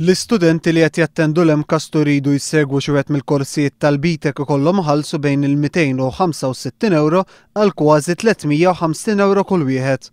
L-istudenti li qed jattendu l-MCAST u jridu jsegwu xi wieħed mill-korsijiet tal-BTEC ikollhom iħallsu bejn il-265 ewro għal kważi 350 ewro kull wieħed.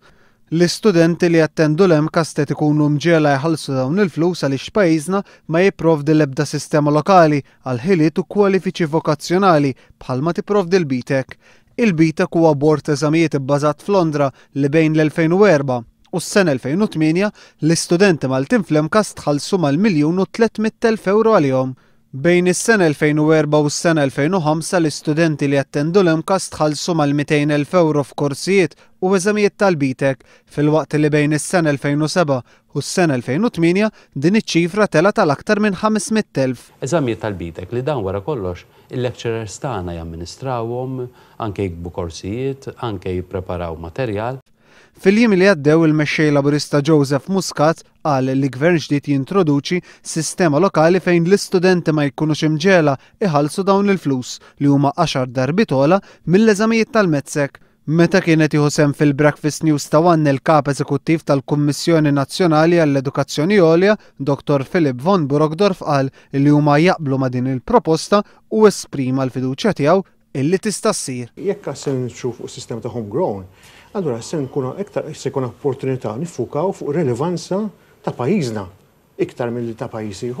L-istudenti li jattendu l-MCAST qed ikunu mġegħla jħallsu dawn il-flus għaliex pajjiżna ma jipprovdi l-ebda sistema lokali għal ħiliet u kwalifiċi vokazzjonali bħalma tipprovdi l-BTEC. Il-BTEC huwa bord t'eżamijiet ibbażat f'Londra li bejn l-2004, u s-sena 2008 l-istudenti Maltin fl-MCAST ħallsu mal-miljun u tliet mitt elf ewro għalihom. Bejn is-sena 2004 u s-sena 2005 l-istudenti li jattendu l-MCAST ħallsu mal-mitejn elf ewro f'korsijiet u eżamijiet tal-BTEC, filwaqt li bejn is-sena 2007 u s-sena 2008 din iċ-ċifra telgħet għal aktar minn ħames mitt elf. Eżamijiet tal-BTEC li dawn wara kollox il-lecturers tagħna jamministrawhom, anke jiktbu korsijiet, anke jippreparaw materjal. Fil-jiem li għaddew il-Mexxej Laburista Joseph Muscat qal li Gvern ġdid jintroduċi sistema lokali fejn l-istudenti ma jkunux imġegħla iħallsu dawn il-flus li huma għaxar darbiet ogħla mill-eżamijiet tal-MECSEC. Meta kien qed jieħu sehem fil-Breakfast News ta' One il-Kap Eżekuttiv tal-Kummissjoni Nazzjonali għall-Edukazzjoni Għolja, Dottor Philipp von Burgdorf qal li huma jaqblu ma' din il-proposta u esprima l-fiduċja tiegħu illi tista' ssir. Jekk għad se niġu fuq sistema ta' home grown, allura se nkunu iktar se jkollna opportunità niffukaw fuq ir-relevanza ta' pajjiżna iktar milli ta' pajjiż ieħor.